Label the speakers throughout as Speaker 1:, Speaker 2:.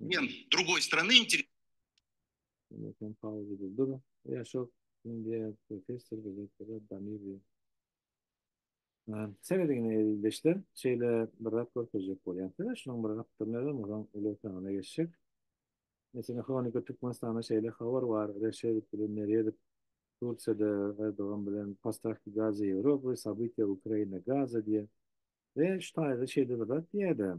Speaker 1: Ýem, drugoý strany
Speaker 2: inter... Sen pauzada dur. Ya şok, indi professor gazetede Damir diýip. Sen edigine eldeşler, şeýle bir zat görkezjek bolýan. Sen şunuň bir gapdyryny özüm onuň uly otagana geçjek. Mesela Hronika Türkmenistana şeýle habar bar, Reşedow bilen Meredow Tursiýada Erdogan bilen Postavki gaza Ýewropa, Sabytýa Ukraina gaza diýýär. Ve şu taýda şeýle bir zat diýýär-de.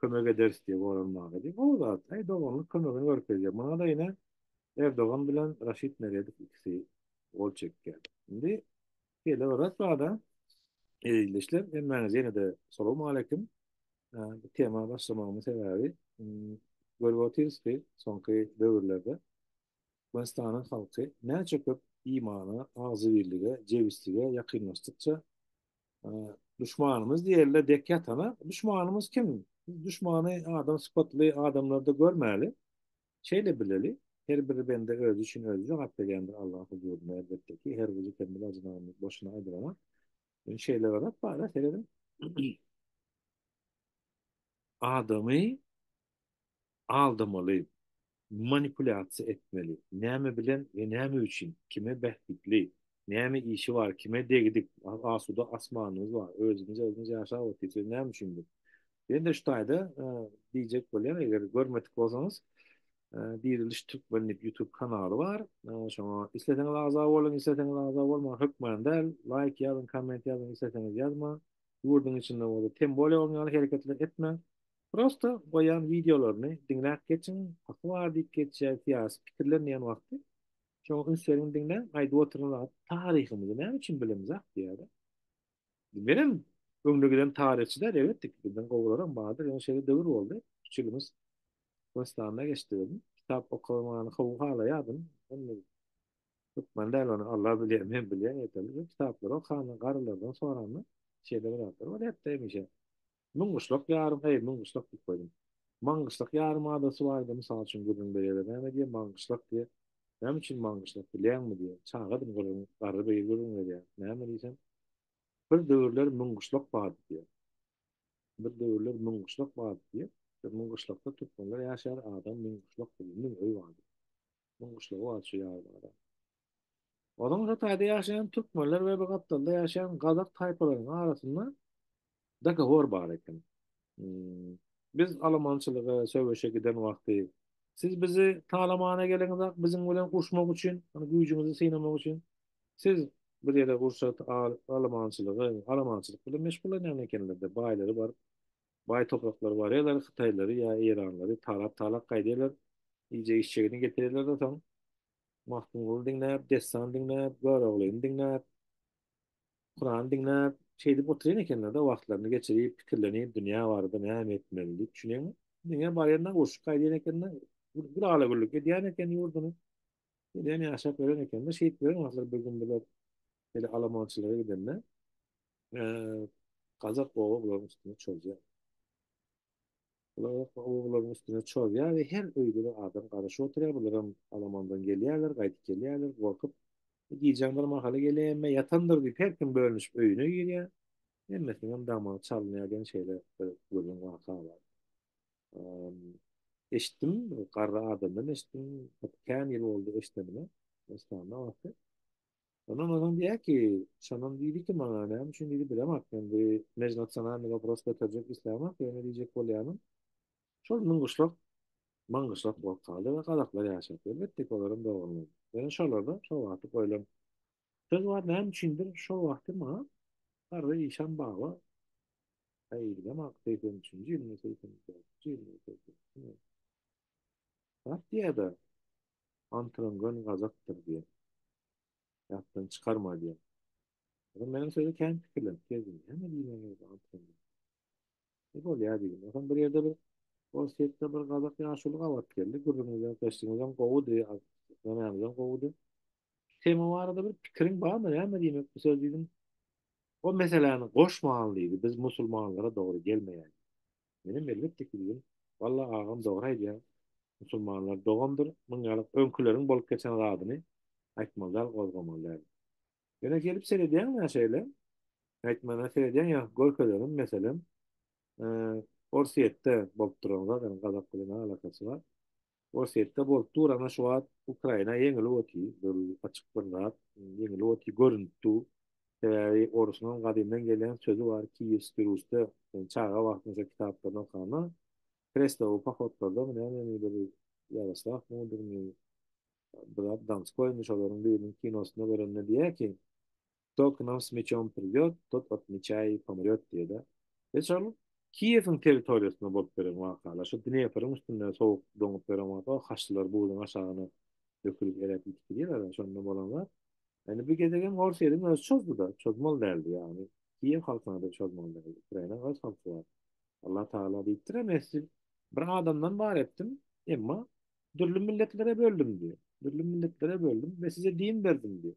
Speaker 2: kömek ederis diýip oýlanmaga diýip gowy zat. Heý doganlyk kömegini görkezýär. Muňada ine Erdogan bilen Raşid Meredow ikisi gol çekýär. Indi şeýle bir zat barda Ezizleşler hemmäňiz ýene-de salowma aleýkum. Bu tema başlamagymyň sebäbi görüp otyrys ki, soňky döwürlerde Türkmenistanyň halky näçe köp imana, agzybirlige, jebislige ýakynlaşdykça, duşmanymyz diýerler dek ýatana, duşmanymyz kim? Biz duşmany adam sypatly adamlarda görmäli. Şeýle bileli, her bir bende özi üçin özi jogap berýändir Allaň huzurynda elbetde ki, her bir zikir mylaj name boşuna aýdylamak. Indi şeýle bir zat bar-a, serediň. Adamy Aldamaly, manipulýasiýa etmeli, näme bilen we näme üçin, kime bähbitli, näme işi bar, kime degdik, asuda asmanymyz bar, özümiz özümiz ýaşap otyrys we näme üçin bu? Men de şu taýda diýjek bolýan, eger görmedik bolsaňyz, Diriliş Türkmen diýip YouTube kanaly bar. Şoňa isleseňiz agza boluň, isleseňiz agza bolmaň, hökman däl. Laýk ýazyň, komment ýazyň, isleseňiz ýazmaň. Ýurduň içinde bolsa tem bolýa bolmaýan ýaly hereketler etmäň. Prosta goýan wideolaryny diňläp geçiň haky bar diýip geçýär syýasy pikirler diýen wagty şoňa üns beriň diňläň aýdyp oturan zat taryhymyzy näme üçin bilemzak diýýärä menem öňde giden taryhçy däl elbetde ki bizden gowularam bardyr ýöne şeýle döwür boldy üç ýylymyz türkmenistanda geçdi welin kitap okamany gowy halaýardym indi türkmen däl ony alla bilýär men bilýän ýeterlik kitaplary okanda garrylardan soranda şeýle bir zatlar bar hepde hemişe Müň gyşlak ýarym, eý, müň gyşlak diýip goýdum. Maňgyşlak ýarymadasy bardy, mysal üçin, gürrüň berýärler, näme diýýär, Maňgyşlak diýýär. Näme üçin Maňgyşlak, bilýäňmi? diýýär. Çagadym, gürrüň, garry beýi gürrüň berýär. Näme diýsem, Bir döwürler müň gyşlak bardy diýýär. Bir döwürler müň gyşlak bardy diýýär. Müň gyşlakda türkmenler ýaşar, adam müň gyşlak bilen, müň öý bardy. Durmuşlygy bar şu ýazlara. Onuň şu taýda ýaşaýan türkmenler we bu gapdalda ýaşaýan gazak taýpalarynyň arasynda dogowor bar eken. Hmm, biz alamançylyga, söweşe giden wagty siz bizi talamana geliňizak, biziň bilen urşmak üçin, ony güýjüňizi synamak üçin siz bir ýere urşat, al, alamançylygy, alamançylyk bilen meşgullanýan ekenler-de, baýlary bar. Baý topraklary barýarlar, hytaýlary ýa eýranlary talap-talap gaýdýarlar. Iýjek işjegini getirýärler-de soň Magtymguly diňläp, dessan diňläp, Göroglyny diňläp, Kuran diňläp, şeýdip oturýan ekenler-de wagtlaryny geçirip, pikirlenip, dünýä barada näme etmeli diýip düşünýän. Diňe barýandan urşup gaýdýan eken-de, bir ala-güllük edýän eken ýurduny. Gelýän ýaşap ýören eken-de, şeýdip ýören wagtlary bir gün bular Şeýle alamançylyga gidende gazak oba bularyň üstüne çozýar. Bular oba bularyň üstüne çozýar we her öýde bir adam garaşyp oturýar. Bularam alamandan gelýärler, gaýdyp gelýärler gorkup. Gijäň bir mahaly gelende ýatandyr diýip her kim bölünişip öýüne girýär. Hemmesiniňem damagy çalynýar diýen şeýle bir gürrüň waka bar. Eşitdim, garry adamdan eşitdim. Kän ýyl boldy eşidenime. Eslanda wagty. Ondan onuň diýýär ki, şonam diýdi ki, maňa näme üçin diýdi, bilemok men bu mejnasionalnyý wopros göterjek islämok, ýöne diýjek bolýanym, şol myňgyşlak, maňgyşlak bolup galdy we gazaklar ýaşapdy. Elbetde ki, olaram dogrumy? Ýöne şolarda şol wagtky goýlan söz bar, näme üçindir şol wagty maňa Garry işan baba, häý, bilemok, segsen üçünji ýylmy, segsen dördünji ýylmy, segsen ikimi, zat diýýär-de, Antyryň göni gazakdyr diýen. Ýatdan çykarma diýen. Ýöne meniň sözi kän pikirlenip gezdim. Näme diýmeli boldy Antyryň? E bolýar diýdim. Onsoň bir ýerde bir Orsýetde bir gazak ýaşuly gabat geldi. Gürrüňiňizem, gyssyňyzam gowudy, nämäňizem gowudy. Tema barada bir pikiriň barmy, näme diýmek bu söz diýdim. O meseläni goşman diýdi, biz musulmanlara dogry gelmeýär. Menem elbetde ki diýdim. Walla agam dogry aýdýaň. Musulmanlar dogandyr, muň ýaly öňkileriň bolup geçen zadyny aýtmaly däl gozgamaly däl. Ýöne gelip seredýäňmi ýa şeýle. Äýtmana seredýäň ýa görkezerin meselem Orsýetde bolup duran zat ony gazak bilen ne alakasy bar. Orsýetde bolup dur ana şu wagt Ukraina ýeňilip otyr dur açykdan zat ýeňilip otyr görünip dur sebäbi orusyňam gadymdan gelýän sözi bar Kiýewskiý Rusda sen çaga wagtyň şo kitaplaryny okanda krestowy pohodlardamy nämemi bir Ýaroslaw Mudryny Brad Donskoýmy şolaryň biriniň kinosynda görende diýýär ki Kto k nam s mečom pridýot, tot od meča i pomrýot diýe-de. Ýa şol Kiýewiň territoriýasynda bolup beren wakalar, şo Dnepryň üstünde sowuk doňup beren waka, haçlylar buzuň aşagyna dökülip eräp gitdi diýerler-ä, şondan bolan zat. Indi bu gezegem Orsýetiň özi çozdy-da, çozmaly däldi, ýagny Kiýew halkyna-da çozmaly däldi. Ukrainanyň öz halky bar. Allah Tagala diýipdir, Messi bir adamdan bar etdim, emma dürli milletlere böldüm diýýär. Dürli milletlere böldüm we size din berdim diýýär.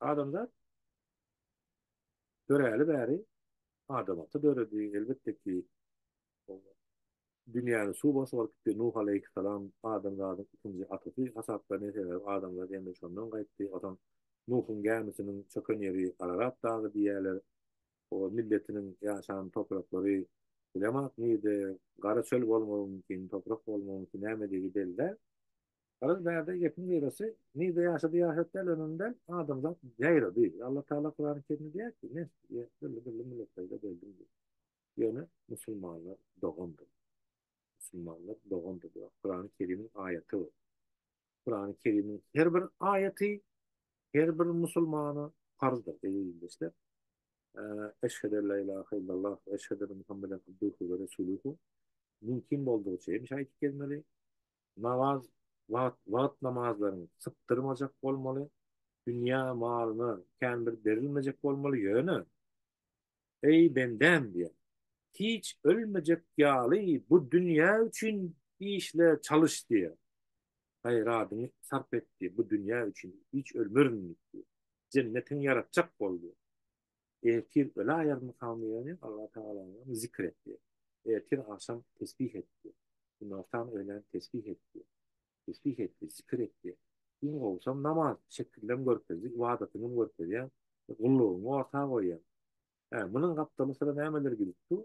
Speaker 2: Adamzat döräli bäri adamaty döredi. Elbetde ki, dünýäni suw basar gitdi. Nuh aleýhissalam adamzadyň ikinji atasy hasaplanýar. Sebäbi adamzat ýene şondan gaýtdy. Onsoň Nuhuň gämisiniň çöken ýeri Ararat dagy diýýärler. O milletiniň ýaşan topraklary bilemok nirede, gara çöl bolmagy mümkin, toprak bolmagy mümkin, nämedigi belli däl. Garaz bärde gepiň gyrasy nirde ýaşady ýaşap däl önemli däl adamzat ýaýrady Allah taala kurany kerimde diýýär ki men sizge dürli dürli millet peýda berdim diýip ýöne musulmanlar dogandyr musulmanlar dogandyr diýýär kurany kerimiň aýaty bu kurany kerimiň her bir aýaty her bir musulmana farzdyr eziz ildeşler eşhedü en la ilahe illallah eşhedü muhammeden abduhu ve resuluhu mümkin boldugyça hem şaýyt gelmeli Namaz wagt wagt namazlaryň sypdyrmajak bolmaly, dünýä malyna kän bir berilmejek bolmaly ýöne Eý bendäm diýýär. Hiç ölmejek ýaly bu dünýä üçin işle çalyş diýýär. Gaýradyňy sarp et diýýär. Bu dünýä üçin hiç ölmerin diýip diýýär. Jennetiňi ýaratjak bol diýýär. Ertir öle aýagyny salmaýany Allah Tagalany zikr etdi. Ertir agşam tesbih etdi. Günortan öýlän tesbih etdi. Tesbih etdi, zikr etdi. Gün gowsam namaz, şekillem görkezdi, ybadatyňam görkezýäň, gullugyňy orta goýýaň. Hä, munuň gapdaly syra nämeler gidip dur?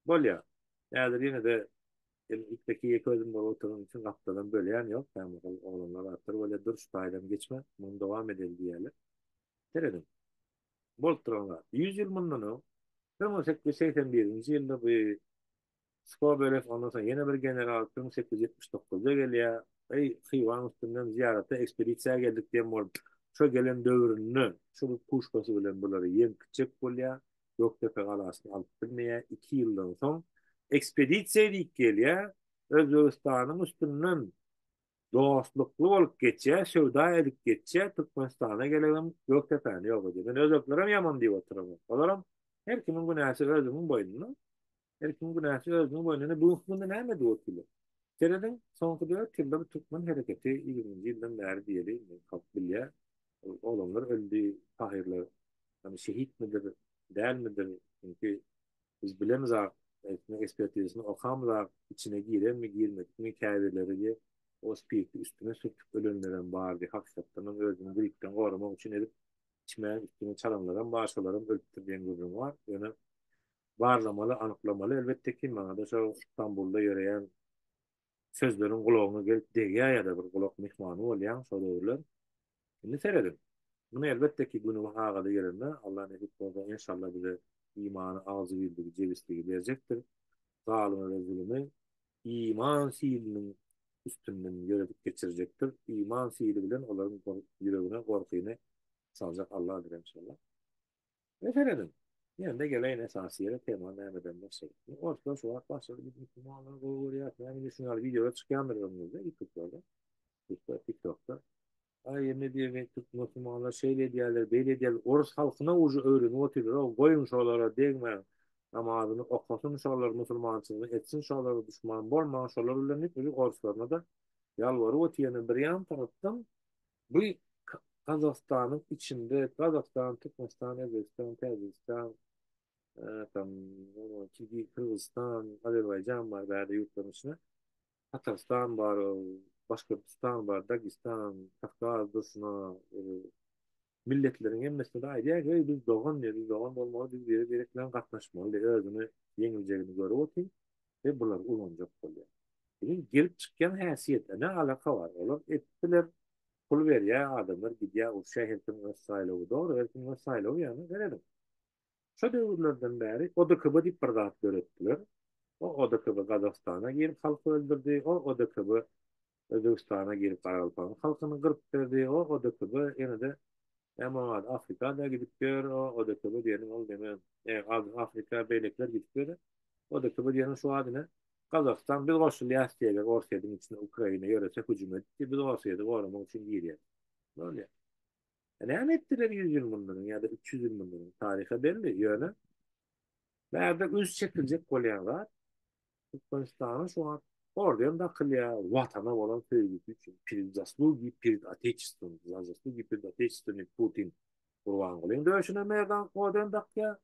Speaker 2: Bolýar. Häzir ýene-de ilkdäki ýeke özüm bolup oturganym üçin gapdalam bölýän ýok, kämahal oglanlar artyr bolýar, dur şu taýdan geçme, muny dowam edeli diýýärler. Serediň. Bolup duran zat. Ýüz ýyl mundan öň, bir müň sekiz ýüz segsen birinji ýylda bu Skobelew, ondan soň ýene bir general, bir müň sekiz ýüz ýetmiş dokuzda gelýär, Eý, Hywaň üstünden zyýarata ekspedisiýa geldik diýen bolup, şo gelen döwründe şo bir puşkasy bilen bulary ýeňip gitjek bolýar, Gökdepe galasyny alyp bilmeýär, iki ýyldan soň ekspedisiýa diýip gelýär, Özbegistanyň üstünden dostlukly bolup geçýä söwda edip geçýä Türkmenistana gelegem Gökdepäni ýok edýä men özbeklerem ýaman diýip oturamok olaram her kimiň günäsi özüniň boýnuna her kimiň günäsi özüniň boýnuna indi bu hökmünde näme edip otyrlar serediň soňky dört ýylda bu türkmen hereketi ýigriminji ýyldan bäri diýeli indi halk bilýä oglanlar öldi şahyrlar şehitmidir dälmidir çünki Biz bilemizak, aýtma ekspertizasyny okamyzak, içine girenmi, girmedikmi, käbirleri diýe o spirti üstüne sürtüp ölenlerem bar diýe hakykatdanam özüni gripden goramak üçin edip içmän üstüne çalanlaram bar, şolaram ölüpdir diýen gürrüň bar. Ýöne barlamaly, anyklamaly elbetde ki, maňada şo Stambulda ýöreýän sözleriň gulagyňa gelip degýär ýa-da bir gulak myhmany bolýaň şo döwürler. Indi serediň. Muny elbetde ki güni we sagady gelende Alla nesip bolsa enşalla bize imany agzybirligi jebisligi berjekdir. Zalymy we zulümi iman siliniň üstünden ýöredip geçirjekdir. Iman sili bilen olaryň ýüregine gorkyny saljak Alladyr enşalla. Ine serediň. Ýene-de geleýin esasy ýere tema nämeden başladyk. Orslar şu wagt başlady biz musulmanlary gowy görýäs. Näme üçin ýaly wideolar çykýandyr öňüňizde ýutuplerde. Ýutup tiktokda. Aý indi diýmek türk musulmanlar şeýle edýärler beýle edýärler orus halkyna uje öwrenip otyrlar-ow goýuň şolara degmäň namazyny okasyn şolar musulmançylygy etsin şolara duşman bolmaň şolar bilen diýip uje oruslaryna-da ýalbaryp otyr ýene bir ýan tarapdan Bu Gazagystanyň içinde Gazagystan, Türkmenistan, Özbegistan, Täjigistan, tam Kirgiz, Kyrgyzystan, Azerbaýjan bar bärde ýurtlaryň içinde. Tatarystan bar, Başkortostan bar, Dagistan, Kawkaz, Duşna, milletleriň hemmesinde aýdýar ki, biz dogan diýýär, biz dogan bolmaly, biz biri-biri bilen gatnaşmaly, özüni ýeňiljegini görüp otyr. we bulary ulanjak bolýar. Biziň gelip çykýan häsiýetine ne alaka bar, olar etdiler, pul berýä adamlar gidýä urşýa her kim öz saýlawy dogry her kim öz saýlawy ýaly garediň. Şo döwürlerden bäri ODKB diýip bir zat döretdiler, o ODKB Gazagystana girip halky öldürdi, o ODKB Özbegistana gelip Garagalpagyň halkyny gyryp berdi o ODKB ýenede näme oň ady Afrikada gidip ýör o ODKB diýeniň ol neme e az Afrika beýlekiler gidip ýör e ODKB diýeniň şu ady ne Gazagystan biz goşulýas diýerler Orsýediň içine Ukraina ýörese hüjüm edipdi biz Orsýedi goramak üçin girýäs ne bolýa e näme etdiler ýüz ýyl mundan öň ýa-da üç ýüz ýyl mundan öň taryha belli ýöne bärde üns çekiljek bolýan zat Türkmenistana şu wagt orden dakylýar, Watana bolan söýgüsi üçin, Prid zaslugii prid Otechestvom, za zaslugi pred Otechestvom Putin Gurbangulyň döşüne merdan orden dakýar,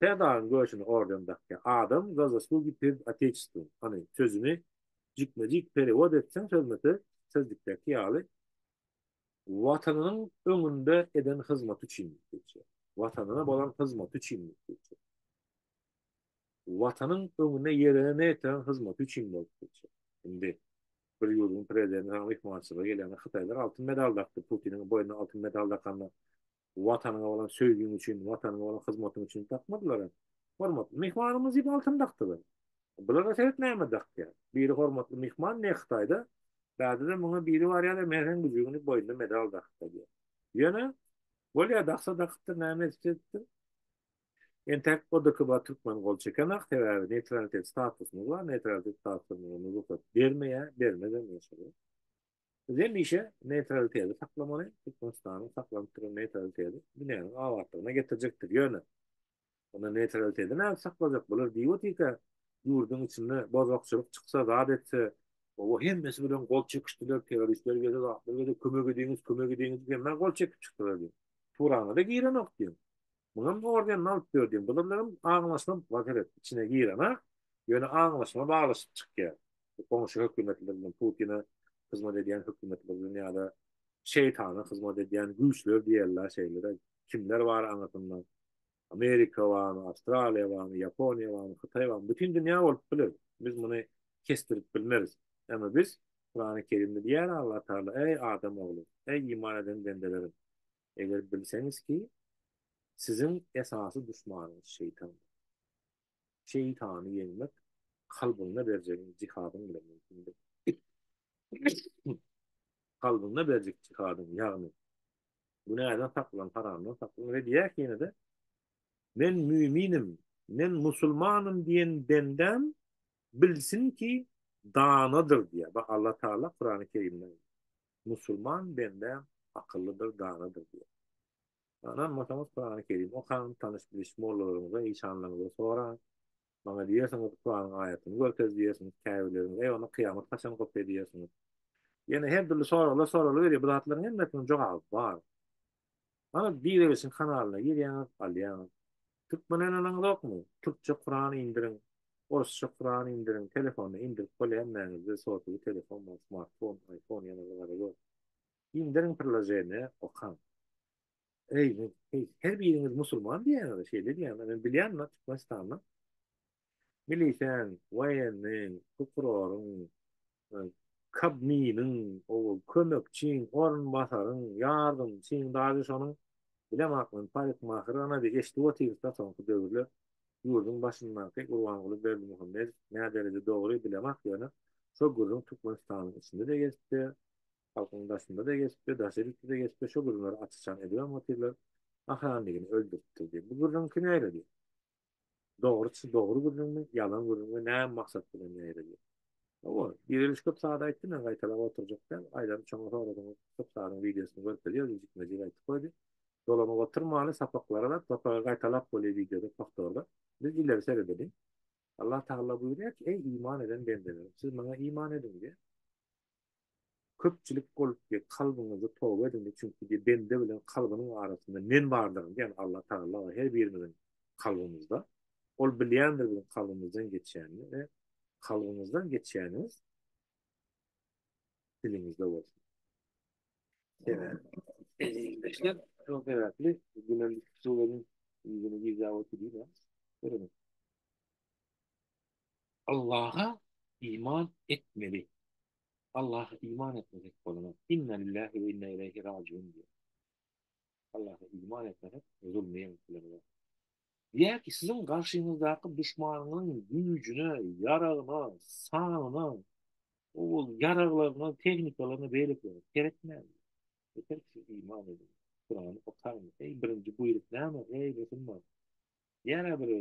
Speaker 2: Serdaryň döşüne orden dakýar, adam za zaslugi pred Otechestvom, hany, sözüni jikme-jik perewod etseň sözme-söz, sözlükdäki ýaly, Watanynyň öňünde eden hyzmaty üçin diýip geçýär. Watanyna bolan hyzmaty üçin diýip geçýär. Watanyň öňünde ýerine ýetiren hyzmaty üçin bolup geçer. Indi bir ýurduň prezidenti saňa myhmançylyga gelende hytaýlar altyn medal dakdy, Putiniň boýnuna altyn medal dakanda Watanyňa bolan söýgiň üçin, Watanyňa bolan hyzmatyň üçin dakmadylar-a. Hormatly myhmanymyz diýip altyn dakdylar. Bulara seret näme dakýar. Biri hormatly myhman ne Hytaýda, bärde-de muňa biri barýar-da Mähriň güjügini boýnuna medal dakyp barýar. Ýöne, bolýar daksa dakypdyr, näme edipdir edipdir. Entäk ODKB-a türkmen gol çekenok, sebäbi neýtralitet statusymyz bar, neýtralitet statusy bize rugsat bermeýär, bermezem inşallah. Biz hemişe neýtraliteti saklamaly, Türkmenistanyň saklanyp duran neýtraliteti dünýäniň abatlygyna getirjekdir. Ýöne, onda neýtraliteti nädip saklajak? Bular diýip otyrka, ýurduň içinde bozgakçylyk çyksa, zat etse, o-o hemmesi bilen gol çekişdiler, terroristler geldi, zatlar geldi, kömek ediňiz, kömek ediňiz diýip hemmä gol çekip çykdylar diýip, turaňa-da girenok diýip, Muňam orden nalyp dördiň gyzylygym aňlaşma waziret içine girana ýöne aňlaşma baglaşyk çykýar bu goňşy hökümetler bilen putine hyzmat edýän hökümetler bilen ýada şeýtana hyzmat edýän güýçler diýerler şeýlede kimler bar aňyrsynda amerika barmy awstraliýa barmy ýaponiýa barmy hytaý barmy bütin dünýä bolup biler biz muny kesdirip bilmeris emma biz kurany kerimde diýýär alla taala eý adam ogly eý iman eden bendelerim Eger bilseňiz ki, siziň esasy duşmanyňyz şeýtandyr. Şeýtany ýeňmek kalbyňda berjegiň jihadyň bilen mümkindir. Kalbyňda berjek jihadyň, ýagny, günäden saklan, haramdan saklan we diýýäki ýene-de, Men müminim, men musulmanym diýen bendäm bilsin ki, danadyr diýýär. Bax, Allatagala Kurany Kerimde. Musulman bende akyllydyr, danadyr diýen. Ynanmasaňyz Kurany Kerim okaň, tanyş-biliş mollalaryňyza, işanlaryňyza soraň. Maňa diýersiňiz, Kuranyň aýatyny görkez diýersiňiz, käbirleriňiz, Eý, onda kyýamat haçan gopýar diýersiňiz. Ýene her dürli soraglar soralyberýär. Bu zatlaryň hemmesiniň jogaby bar. Hany Direwisin kanalyna girýäňiz, alýaňyz. Türkmen oýnanaňyzokmy? Türkçe Kuran indiriň, Orsça Kuran indiriň, telefona indirip bol hemmäňizde sotowý telefon bar, smartfon, iPhone ýene bir zada ýok. Indiriň priloženiýa, okaň. Eý, men, heý, her biriňiz musulman diýýäňiz-a, şeýle diýýäňiz-a, men bilýän-ä Türkmenistanda Miliseň, woýenniň, prokuroryň, Kobminiň, owal, kömekçiň, orunbasaryň, ýardymçyň, daže şonuň, bilem akmyň, parikmahyr, ana, bir eşidip otyrys-da soňky döwürler ýurduň başyndaky Gurbanguly Berdimuhamedow nädereje dogry, bilem ak, ýöne şo gürrüň Türkmenistanyň içinde-de gezip-de, halkyň daşynda-da gezip-de, daşary ýurtda-da gezip-de şo gürrüňleri açyşan edibem otyrlar, Ahanligini öldüripdir diýip. Bu gürrüňki näle diýip. Dogruçy dogry gürrüňmi, ýalan gürrüňmi, näme maksat bilen ýaýradýar? Hawa, Direliş köp zady aýtdy, men gaýtalap oturjak däl, Aýlary çoňa soradyňyz, köp zadyň wideosyny görkezýäris, ejikmejik aýtyp goýdy. Dolanyp oturmaly, sapaklary bar, topagy gaýtalap bolýar wideoda, powtorda. Biz ileri seredeliň. Allah Tagalla buýurýar ki, Eý, iman eden bendelerim, siz Maňa iman ediň diýýär. Köpçülik bolup diýip kalbyňyzy toba ediň çünki diýip bende bilen kalbynyň arasynda men bardyryn diýen Alla Tagala bar her birimiziň kalbymyzda ol bilýändir biziň kalbymyzdan geçýänini we kalbyňyzdan geçýäniňiz diliňizde bolsun. Eziziňizdeşler şol sebäpli günem suwuň ýüzüni gizläp otyr diýip ýa. Allaha iman etmeli. Allaha iman etmesek bolmaz. Inna lillahi we inna ileyhi raciun diýýär. Allaha iman etmesek zulmy ýeňip Diýär ki, siziň garşyňyzdaky duşmanyňyň güýjüne, ýaragyna, sanyna, ol ýaraglaryna, tehnikalaryna beýlekilere seretmäň. Yeter ki, siz iman edin. Kur'any okaň. Eý, birinji buýruk näme? Eý, musulman. Diýär biri,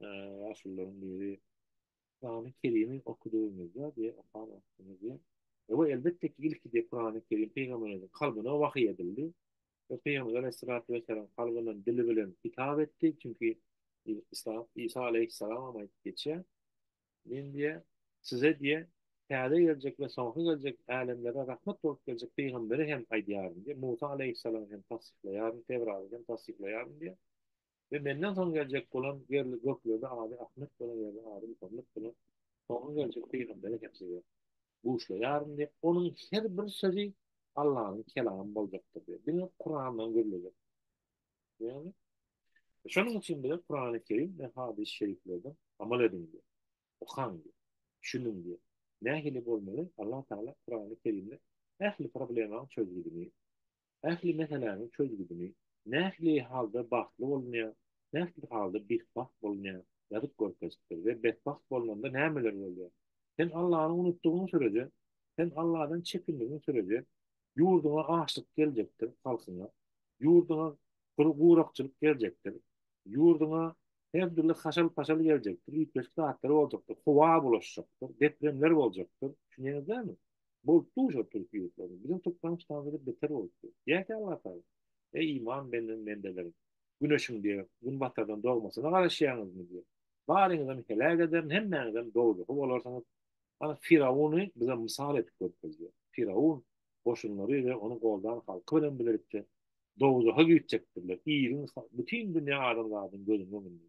Speaker 2: ýaşulularyň biri Kurany Kerimi okudygyňyzda we okan wagtyňyzda Ewe elbetde ki ilkide Kurany Kerim Peýgamberimiziň kalbyna wahyý edildi we Peýgamber Aleyhissalatu Vesselam kalbyndan dili bilen hitap etdi çünki İsa, İsa Aleyhissalam hem aýdyp geçýär Men diýe size diýe täze geljek we soňky geljek älemlere rahmet bolup geljek Peýgamberi hem aýdýaryn diýe Musa Aleyhissalam hem tassyklaýaryn Tewraty hem tassyklaýaryn diýe we menden soň geljek bolan ýerli göklerde ady Ahmet bolan ýerde ady Muhammet bolan soňky geljek pygamberi hem size buşlaýaryn diýip, onuň her bir sözi Allanyň kelamy boljakdyr diýip, diňe Kurandan gürlejek. Ýagny, şonuň üçin bize Kurany Kerim we hadys-y şeriflerden amal ediň diýip, okaň diýip, düşüniň diýip, nähili bolmaly, Alla Taala Kurany Kerimde ähli problemaň çözgüdini Ähli meseläniň çözgüdini, nähili halda bagtly bolunýar, nähili halda betbagt bolunýar, ýazyp görkezipdir we betbagt bolnanda nämeler bolýar. Sen Allany unutdygyň sürece, sen Alladan çekindigiň sürece, ýurduňa açlyk geljekdir, halkyňa, ýurduňa gurakçylyk geljekdir, ýurduňa her dürli haşal-paşal geljekdir, üýtgeşik zatlar boljakdyr, howa bulaşjakdyr, depremler boljakdyr. Düşünýäňiz dälmi? Bolupdy uşo türki ýurtlarda. Biziň türkmen ştamyzda beter bolupdy. Diýäýse Allah taala. Eý iman benden bendeleri. Güneşiň diýe günbatardan dogmasyna garaşýaňyzmy diýe. Baryňyzam heläk ederin hemmäňizem dowzahy bolarsyňyz. Ana firawuny bize mysal edip görkezýär. Firawun goşunlary we ony goldan halky bilen bilelikde dowzaha güýtjekdirler. Iliň bütin dünýä adamzadyň gözüniň öňünde.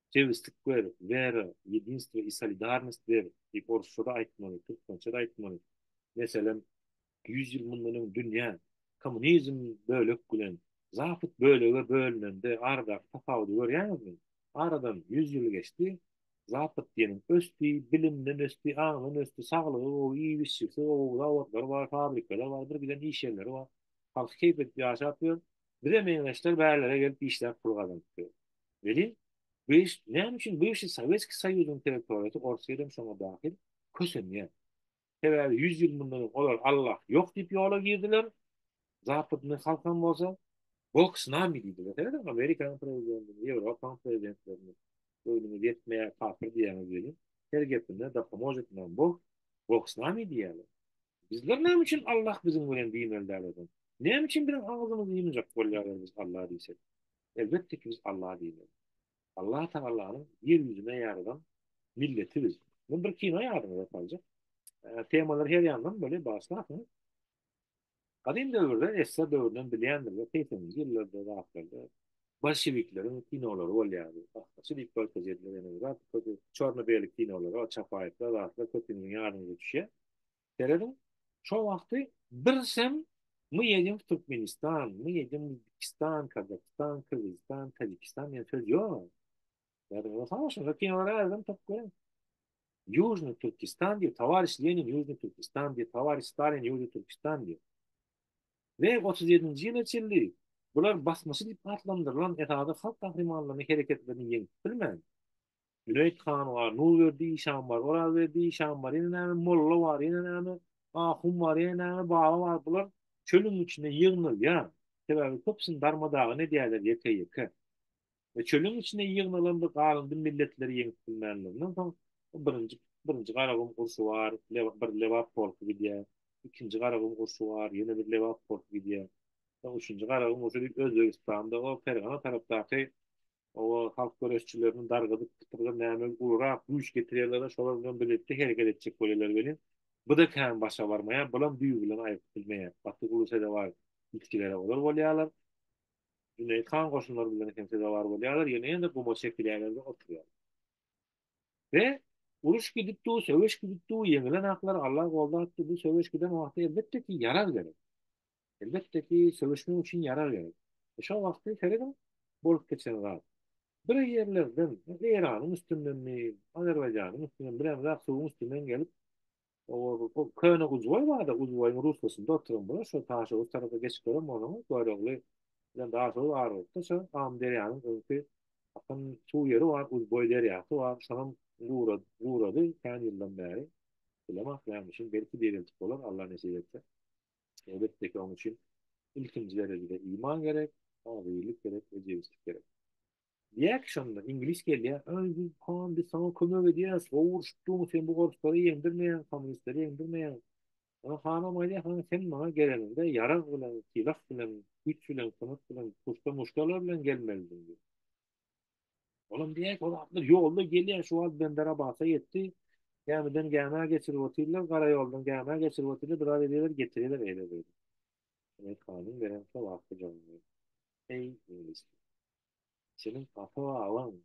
Speaker 2: Jebislik ber, wera, ýedinstwo i solidarnost ber diýip orsça-da aýtmaly, türkmençe-de aýtmaly. Meselem, ýüz ýyl mundan öň dünýä kommunizm bölek bilen zapad bölege bölünende aradaky tapawudy görýäňizmi? Aradan ýüz ýyl geçdi, zapad diýeniň ösdi, bilimden ösdi, aňdan ösdi, saglygy gowy, iýip-içjisi gowy, zawotlary bar, fabrikalar bar, birgiden iş ýerleri bar. Halky keýp edip ýaşap ýör. Bize meňzeşler bärlere gelip işläp pul gazanyp ýör. Welin, bu iş, näme üçin bu işi Sowetskiý Soýuzyň territoriýasy, Orsýet hem şoňa dahil, kösenýär? Sebäbi ýüz ýyl mundan öň olar Allah ýok diýip ýola girdiler, zapydyny halkam bolsa, Bog s nami diýdiler. Seredin, Amerikanyň prezidentini, Ýewropaň prezidentlerini, göwnüňiz ýetmeýär, kapyr diýýäňiz welin, her gepinde da pomožet nam Bog, Bog s nami diýýärler. Bizler näme üçin Allah biziň bilen diýmeli däl o zaman? Näme üçin biziň agzymyzy ýumjak bolýar eger biz Allah diýsek? Elbetde ki biz Allah diýmeli. Allah Tagalanyň ýer ýüzüne ýaradan milleti biz. Men bir kino ýadyňyza saljak. Temalar her ýandan bolýar bagyşlarsyňyz. Gadym döwürde, Esser döwründen bilýändir we segseninji ýyllarda zatlarda Bolşewikleriň kinolary bolýardy. Gahgaça diýip görkez edilip ene bir zat közi çorno-beli kinolara o Çapaýewler zatlar köp siziň ýadyňyza düşýär. Serediň şo wagty birsem My jedem w Türkmenistan, my jedem w Uzbekistan, Kazahstan, Kyrgyzystan, Tadjikistan diýen söz ýok. Ýadyňyza salýa şonda kinolara ärizem tapyp görüň. Ýužnyý Türkistan diýip, Towariş Lenin Ýužnyý Türkistan diýip, Towariş Stalin Ýužnyý Türkistan diýip. we otuz ýedinji ýyla çenli bular basmaçy diýip atlandyrylan esasy halk gahrymanlarynyň hereketlerini ýeňip bilmän, Jüneýit han bar, Nurberdi işan bar, Orazberdi işan bar, ýene näme, molla bar, ýene näme, ahun bar, ýene näme, baba bar, bular çölüň içinde ýygnalýar, sebäbi köpüsini darma-dagyn edýärler ýeke-ýeke. we çölüň içine ýygnalanda galyndy milletleri ýeňip bilmänliginden soň birinji birinji Garagum urşy bar, bir Lebap polky gidýär, ikinji Garagum urşy bar, ýene bir Lebap polky gidýär. Soň üçünji Garagum urşy diýip Özbegistanda o Pergana tarapdaky oba halk göreşçilerini dargadyp pytyrga näme ulurak güýç getirýärler-de şolar bilen birlikde hereket etjek bolýarlar welin bu-da kän başa barmaýar, bulam düýbi bilen aýryp bilmeýär. Batyguly Sedebaýew ilçileri olar bolýarlar. Jüneýit han goşunlary bilen hem sezewar bolýarlar, ýene-de guma çekilýärler-de oturýarlar. We uruş gidip dur, söweş gidip dur, ýeňilen aklar Alla goldap dur, bu söweş giden wagty elbetde ki, ýarag gerek. Elbetde ki, söweşmek üçin ýarag gerek. We şol wagty serediň, bolup geçen zat. Bir ýerlerden, Eýranyň üstündenmi, Azerbaýjanyň üstünden, bilemzok, suwuň üstünden gelip, Oba bu köne Uzboý barda Uzboýyň ruskasynda oturan bula şo Taşoguz tarapa geçip gören bolsaňyz Görogly bilen Daşoguz ara bolupdyr şo Amyderýanyň öňki akan suw ýeri bar Uzboý derýasy bar şonam gurady gurady kän ýyldan bäri bilemok näme üçin belki diriltip bolar Alla nesip etse elbetdeki oň üçin ilkinji derejede iman gerek agzybirlik gerek ejebislik gerek. Diýýär ki şonda iňlis gelýär, Aý biz han biz saňa kömek edýäs, gowy urşup durň, sen bu orslary ýeňdirmeýäň, kommunistleri ýeňdirmeýäň. Soň hanam aýdýar, Hany sen maňa geleniňde ýarag bilen, sylag bilen, güýç bilen, sungat bilen, puşta-muştalar bilen gelmelidiň diýýär. Olam diýýär ki, ol atlar ýolda gelýär, şu wagt Benderabada ýetdi, gämiden gämä geçirip otyrlar, gara ýoldan gämä geçirip otyrlar, biraz edýärler, getirýärler eýle-beýle. Junaýt hanyň beren sowatly jogaby, Eý iňlis! Seniň ata-babaň,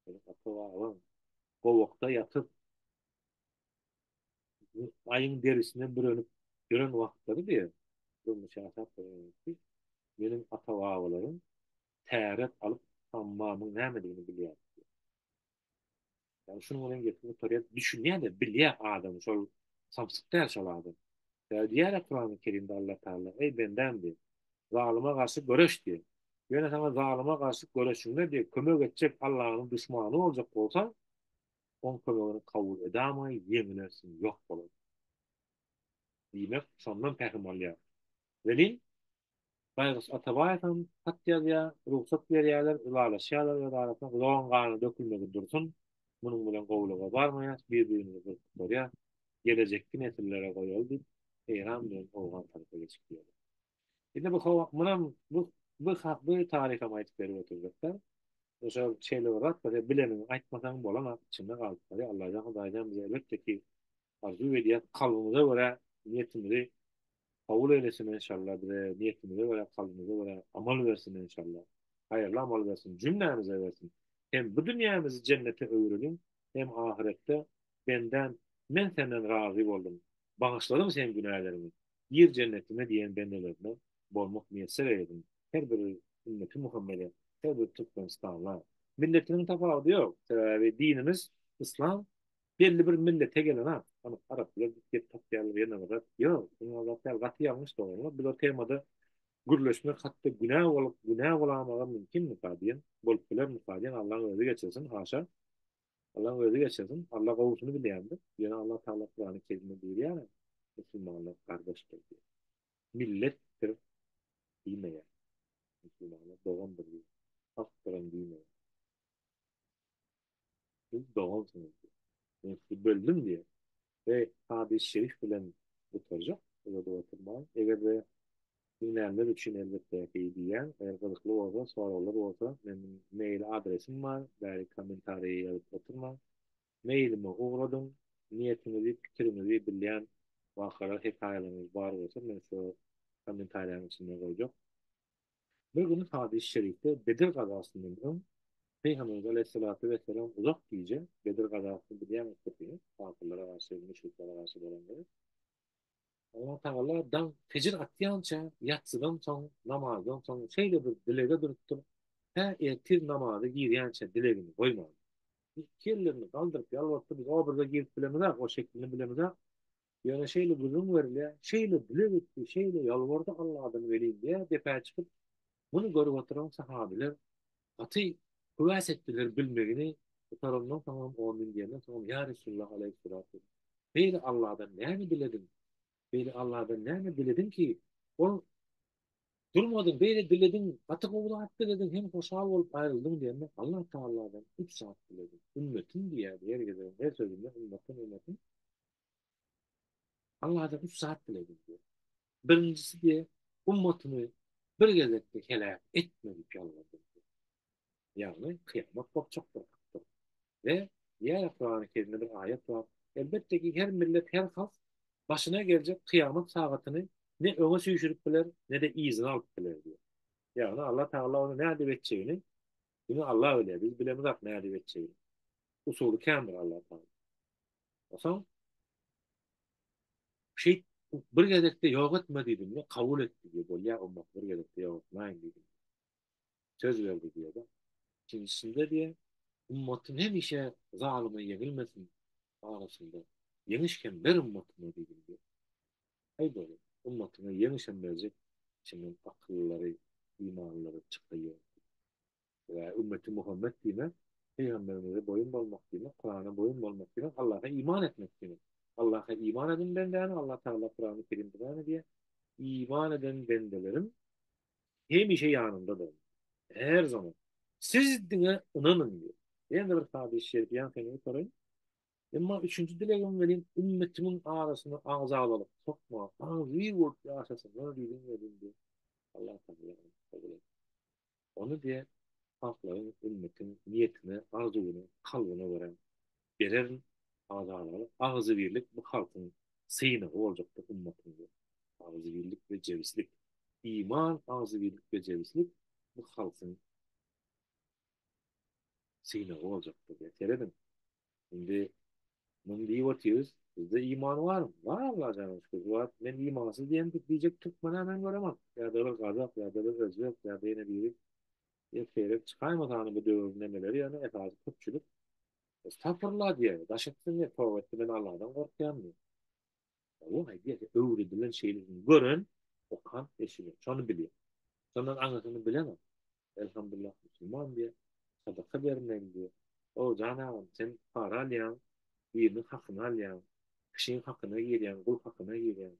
Speaker 2: seniň ata-babaň gowakda ýatyp, aýyň derisine bürenip ýören wagtlary diýýär. Durmuş ýaşap ýörenokdy. Meniň ata-babalarym täret alyp, hammamyň nämedigini bilýärdi. Ýagny şunuň bilen gepini gutaryp düşünýäne bilýä adam şol samsyk däl şol adam. Sebäbi diýýärä Kurany Kerimde Allah Taala eý bendäm diýip zalyma garşy göreş diýip. Ýöne saňa zalyma garşy göreşiňde diýip kömek etjek Allahnyň duşmany boljak bolsaň oň kömegini kabul edamaý ýeňilersiň ýok bolarsyň. Diýmek şondan pähim alýar. Welin Baýguş Atabaýewem hat ýazýar, rugsat berýärler, ylalaşýarlar öz arasynda, Gulagyň gany dökülmegi dursun, munuň bilen gowulyga barmaýas, bir-birimizi gyrkyp-gorýas, gelejekki nesillere goýaly diýip, Eýran bilen Owgan tarapa geçip giderler. Indi bu hawa, munam bu bu ha bu taryham aýdyp berip oturjakda, şo şeýle bir zat bar, bilenini aýtmasaň bolanok, içinde galyp barýar, Allajan Hudaýjan bize elbetde ki, arzuw edýäs kalbymyza görä niýetimizi kabul eylesin enşalla bize niýetimize görä kalbymyza görä amal bersin enşalla haýyrly amal bersin jümlämize bersin hem bu dünýämizi jennete öwürelim hem ahyretde bendäm men senden razy boldum bagyşladyň sen günälerimi gir jennetime diýen bendelerine bolmak miýesser eylesin her bir ümmeti muhammede her bir türkmenistanla milletiniň tapawudy ýok sebäbi dinimiz yslam Belli bir millete gelen a ony arap bilen gep tapýarlar ýene bir zat ýok ony ozat däl gaty ýalňyş doganlar biz o temada gürleşmek hatda günä bolup günä bolamagam mümkinmika diýen bolup bilermika diýen allaň özi geçirsin haşa allaň özi geçirsin alla gowusyny bilýändir ýöne allah taala kurany kerime buýurýar a musulmanlar gardaşdyr diýip milletdir diýmeýär musulmanlar dogandyr diýip halkdyram diýmeýär. Siz dogansyňyz diýýär. Men sizi böldüm diýýär. We hadys şerif bilen gutarjak, uzadyp oturman. Eger-de diňlänler üçin elbetde ki diýýän. Eger gyzykly bolsa, soraglar bolsa, meniň mail adresim bar, bäri kommentariýa ýazyp oturmaň. Mailime ugradyň. Niýetiňizi, pikiriňizi bilýän wakalar, hekaýalaryňyz bar bolsa, men size kommentariýanyň içinde goýjak. Bir gün hadysy şerifde Bedir gazasyndan öň Pygamberimiz aleýhissalatu wessalam uzak gije Bedir gazasyny bilýäňiz köpüňiz kafirlere garşy müşriklere garşy bolanda Allah tagala daň fejir atýança ýatsydan soň namazdan soň şeýle bir dilege durupdyr tä ertir namaza girýänçä dilegini goýman iki ellerini galdyryp ýalbarypdyr biz o birde girip bilemizak o şeklini bilemizak Ýöne şeýle gürrüň berilýär, şeýle dile gitdi, şeýle ýalbardy Alladan welin diýýär, depä çykyp, muny görüp oturan sahabylar gaty höwäs etdiler bilmegini, gutarandan soňam, on müň diýenden soňam, Ýa Resulalla aleýhissalatu, beýle Alladan näme dilediň, beýle Alladan näme dilediň ki, ol durmadyň, beýle dilediň, gaty gowy zat dilediň, hem hoşal bolup aýryldyň diýende, Allah Tagaladan üç zat dilediň, ümmetim diýýärdi, ýeri gelende, her sözünde ümmetim, ümmetim, Allada üç zat bile bildi. Birinjisi diye ummatyny bir gezekde heläk etme dip ýalbardy. Ýagny kyýamat gopjak bir hakdyr. We diýýärä Kurany kerimde bir aýat bar, elbetde ki her millet her halk başyna geljek kyýamat sagatyny ne öňe süýşürip biler nede yzyna alyp biler diýip. Ýagny Alla Tagala ony nädip etjegini diňe Alla bilýär biz bilemizak nädip etjegini. Usuly kändir Alla Tagala. Soň şeýt bir gezekde ýok etme diýdim we kabul etdi diýip bolýar, ondan bir gezekde ýok etmäýin diýdim. Söz berdi diýýär. Ikinjisinde diýe, ümmetini hemişe zalyma ýeňilmesin arasynda ýeňiş hem ber ümmetine diýdim diýe. Aý bolu, ümmetine ýeňiş hem berjek içinden akyllylary, imanlylary çykaýýar. Eee ümmeti Muhammet diýmek Pygamberimize boýun bolmak diýmek Kurana boýun bolmak diýmek Allaha iman etmek diýmek. Allaha iman edin bendäni Allah Tagala Kurany Kerimde beýan edýär. Iman eden bendelerim hemişe ýanymda boldy. Her zaman. Siz diňe ynanyň diýýär. Ýene-de bir hadys şerif ýaňkyňyzy okaýyn. Emma üçünji dilegim welin ümmetimiň arasyna agzabalyk sokma, agzybir bolup ýaşasynlar diýdim welin diýip Allah Tagala ony kabul etdi. Ony diýe halklaryň, ümmetiň niýetine, arzuwyna, kalbyna görä bererin, azalalyk, agzybirlik bu halkyň synagy boljakdyr ummatynda. Agzybirlik we jebislik. Iman, agzybirlik we jebislik bu halkyň synagy boljakdyr diýýär. Serediň, Indi muny diýip otyrys, bizde iman barmy? Bar Allaha jana şükür. Bu wagt men imansyz diýen diýjek türkmen-ä men göremok. Ýa-da bir gazak, ýa-da bir özbek, ýa-da ýene biri. Ýer seýrek çykaýmasany bu döwrüň nemeleri ýöne esasy köpçülik Estagfurullah diýer, daş etsin diýer, toba etsin men Alladan gorkýan diýer. Olar aýdýar, öwredilen şeýlesini gören, okan, eşiden, şony bilýär. Şondan aňyrsyny bilemok. Elhamdullah, musulman diýýär, sadaka bermeli diýýär. O, jan agam, sen para alýaň, biriniň hakyny alýaň, kişiň hakyna girýäň, gul hakyna girýäň.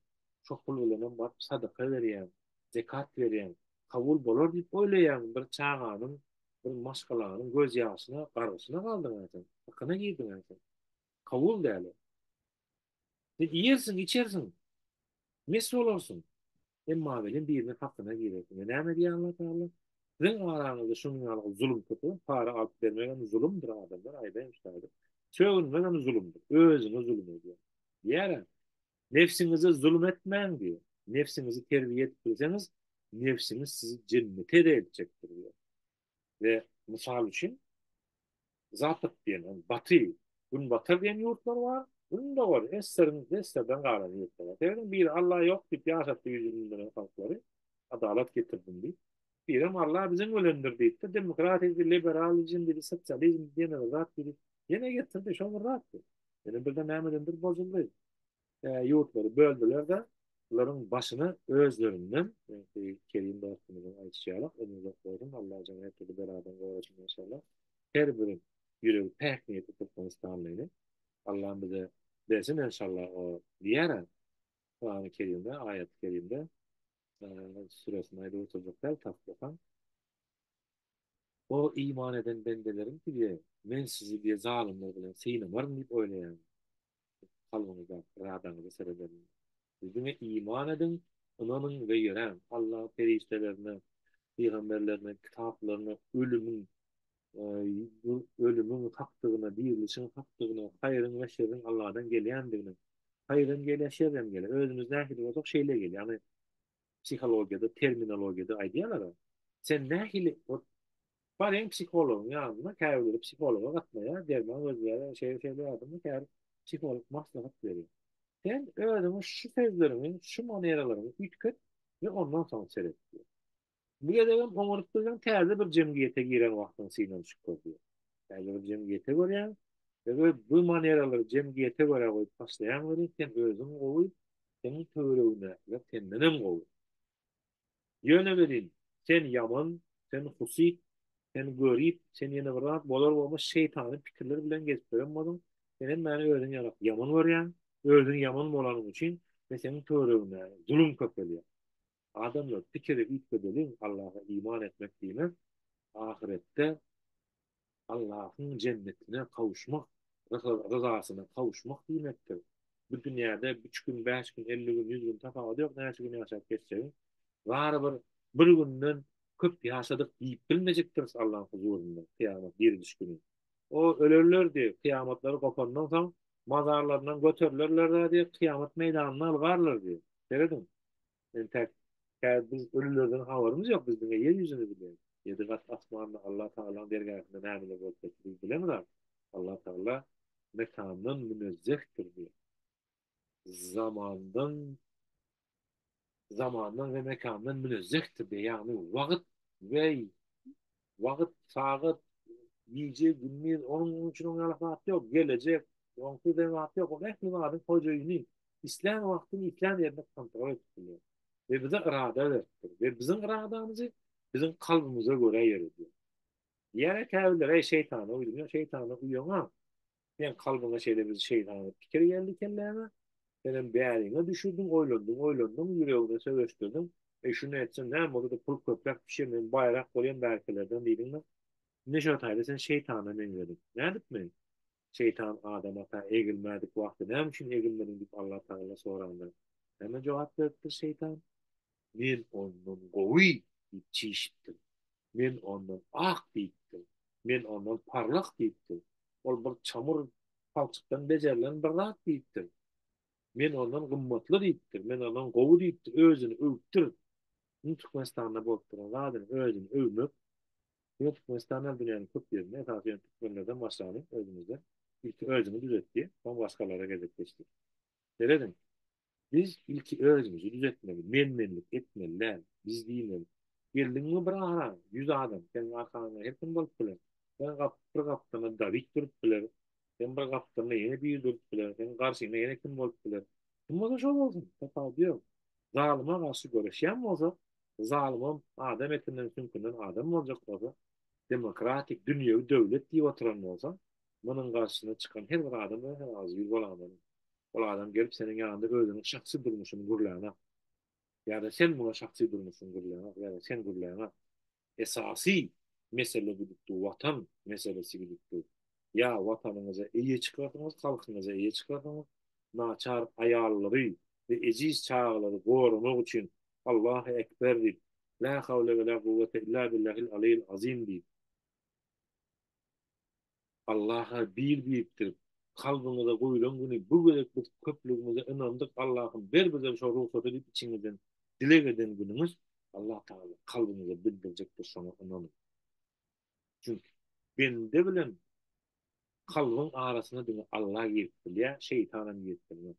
Speaker 2: Şo pul bilenem baryp sadaka berýäň, zekat berýäň. Kabul bolar diýip oýlaýaňmy? Bir çaganyň, bir maşgalanyň gözýaşyna, gargyşyna galdyň-a sen, hakyna girdiň-a sen. Kabul däl o. Sen iýersiň, içersiň, mes bolarsyň, emma welin biriniň hakyna girersiň. Ine, näme diýýär Allah Tagala? Siziň araňyzda şunuň ýaly zulum köpelip, para alyp bermek hem zulumdyr, adamlar, aýdaýmyş taýsyz. Sögünmek hem zulumdyr. Özüňe zulum edýäň. Diýýär-ä, Nebsiňize zulum etmäň diýýär. Nebsiňizi terbiýe edip bilseňiz, nebsiňiz sizi jennete-de eltjekdir diýýär. we mysal üçin Zapad diýen, ony Baty, Günbatar diýen ýurtlar bar, Gündogar, SSR-iň, SSR-den galan ýurtlar bar. Sebäbi biri Alla ýok diýip ýaşapdy ýüz ýigrimi ýyl öň halklary, adalat getirdim diýip. Birem Alla biziň bilendir diýipdi, demokratiydy, liberalizmdidi, sosializmdi, ýene bir zatdydy. Ýene getirdi, şol bir zatdy. Ýöne birden nämedendir bozuldy. ýurtlary böldüler-de, bularyň başyna özlerinden, ýagny Kerim dostumyzyň aýdyşy ýaly, ömri uzak bolsun, Allah jany her türlü beladan gorasyn maşallah, her bir ýüregi päk niýetli türkmenistanlyny Allam bize bersin enşalla o diýara Kurany Kerimde, aýaty Kerimde, süresini aýdyp oturjak däl, taslykam. O iman eden bendelerim diýdi, men sizi diýe zalymlar bilen synamaryn diýip oýlaýaryn. kalbyňyza, yradaňyza seredeliň. Siz diňe iman ediň, ynanyň we ýöräň. Alla perişdelerine, pygamberlerine, kitaplaryna, ölümiň ölümiň hakdygyna, dirilişiň hakdygyna, haýryň we şerriň Alladan gelýändigine, haýyr hem gelýär, şer hem gelýär. Özümiz nähili bolsak, şeýle gelýär. Ýagny psihologiýada, terminologiýada aýdýarlar-a, sen nähili Baryň psihologyň ýanyna, käbirleri psihologa gatnaýar, derman gözleýär, şeýle şeýle ýadymda käbir psiholog maslahat berýär. Sen özüňi şu sözleriňi, şu maneralaryňy üýtget we ondan soň seret diýýär. Bu gezegem oňaryp durýaň, täze bir jemgyýete giren wagtyňy synanyşyp gör diýýär. Täze bir jemgyýete görýäň we öz bu maneralary jemgyýete görä goýup başlaýaň welin, sen özüň gowy, seniň töweregiňdekiler sendenem gowy. Ýöne welin, sen ýaman, sen husyt, sen görip, sen ýene bir zat bolar-bolmaz şeýtany pikirler bilen gezip ýören bolyň, senem mäni özüň ýalak ýaman görýäň, özüň ýaman bolanyň üçin men seniň töweregiňde zulum köpelýär. Adamlar, pikiri üýtgedeliň, Allaha iman etmek diýmek, ahyretde Allahyň jennetine kawuşmak, ryzasyna kawuşmak diýmekdir. Bu dünýäde üç gün, bäş gün, elli gün, ýüz gün, tapawudy ýok näçe gün ýaşap geçsegiň, barybir bir günden köp ýaşadyk diýip bilmejekdiris Allaň huzurynda kyýamat diriliş güni. O, ölerler diý, kyýamatlary gopandan soň, mazarlaryndan göterilerler-dä diý, kyýamat meýdanyna yl-garlar diý. Serediň! Entek häzir biz ölülerden habarymyz ýok, biz diňe ýer ýüzüni bilýäris. Ýedi gat asmanda Allatagalaň dergähinde nämeler bolup geçdi biz bilemizok. Allatagala mekandan münezzehdir diýip, zamandan zamandan we mekandan münezzehdir diýip, ýagny wagt we Wagt, sagat, gije, gündiz, onuň üçin oňa ýalak zat ýok. Gelejek, oňsuz diýen zat ýok. Ol ähli zadyň hojaýyny. Islän wagtyny islän ýerinde kontrol edip bilýär. We bize irada beripdir. We biziň iradamyzy biziň kalbymyza görä ýöredýär. Diýýärler käbirleri, Eý şeýtana uýdum. Ýok, şeýtana uýaňa. Seň kalbyňa şeýle bir şeýtany pikir geldi kelläňe. Senem bäriňe düşürdiň, oýlandyň, oýlandyň, ýüregiňe söweşdirdiň. Eý, şuny etsem näme bolady, pul köpräk düşer, men baýrak bolýan bärkilerden diýdiň-de. Indi şo taýda sen şeýtana meňzediň. Nädip men? Şeýtan Adam ata egilmädik wagty näme üçin egilmediň diýip Allatagala soranda, näme jogap beripdir şeýtan? Men ondan gowy diýip çişipdim. Men ondan ak diýipdim. Men ondan parlak diýipdim. Ol bir çamur palçykdan bejerilen bir zat diýipdim. Men ondan gymmatly diýipdim. Men ondan gowy diýipdim. Özüni öwüpdir. Indi Türkmenistanda bolup duran zadyny özüni öwmek. Ýöne Türkmenistan däl dünýäniň köp ýerinde, esasy ýöne türkmenlerden başlanyp özümizde ilki özüňi düzet diýip, soň başgalara gezek geçdi. Serediň. Biz ilki özümizi düzetmeli, men-menlik etmeli däl. Biz diýmeli, Geldiňmi bir ara, ýüz adam, seniň arkaňda her kim bolup biler. Sen gap, bir gapdalynda Dawid durup biler, sen bir gapdalynda ýene biri durup biler, seniň garşyňda ýene kim bolup biler. Kim bolsa şo bolsun, tapawudy ýok. Zalyma garşy göreşýän bolsak, zalymam adam etinden-süňkünden adam boljak bolsa, demokratik, dünýewi döwlet diýip oturan bolsa, Munuň garşysyna çykan her bir adam örän agzybir bolandan, ol adam gelip seniň ýanyňda özüniň şahsy durmuşyny gürläňok ýa-da sen muňa şahsy durmuşyňy gürläňok ýa-da sen gürläňok. Esasy mesele gidipdir Watan meselesi gidipdir. Ýa Watanyňyza eýe çykarsyňyz, halkyňyza eýe çykarsyňyz, naçar aýallary we ejiz çagalary goramak üçin Allahu ekber diýip, Lä hawle we lä guwwete illa billahil aliyil azim diýip, Allaha bir diýipdir. Kalbyňyza guýlan güni bu gezek biz köplügimize ynandyk Allahym ber bizem şo rugsaty diýip içiňizden dileg eden güniňiz Allah tagala kalbyňyza bildirjekdir şoňa ynanyň. Çünki bende bilen kalbyň arasyna diňe Allah girip bilýär şeýtanam girip bilmez.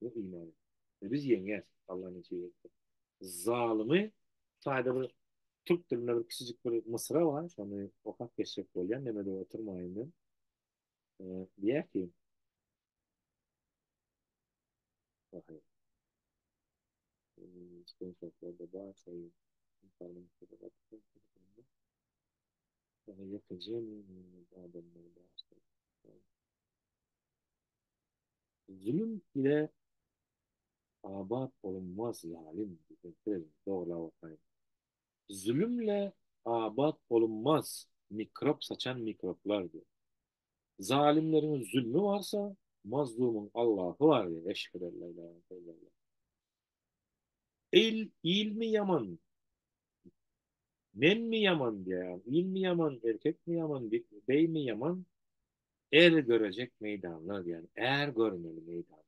Speaker 2: Ýok iman et. We biz ýeňýäs, Alla neçe ýetsin. Zalymy taýda bir türk dilinde bir kiçijik bir mysra bar, şony okap geçjek bolýan, demede oturmaýyn men. Diýýär ki, Waheý. Sen şoklada bar, şeýle. Ýa-da ýekeje men adamlar bar. Zulum ile abat bolunmaz ýalym diýen söz dogry-la wakaýa. Zulum ile abat bolunmaz mikrop saçan mikroplar diýen. Zalymlaryň zulmy barsa, mazlumyň Allahy bar diýen eşhedalla ilaha illallah. Il, ilmi ýaman, menmi ýaman diýýän, ilmi ýaman, erkekmi ýaman, beými ýaman, er görejek meýdanlar diýýän, är görmeli meýdan.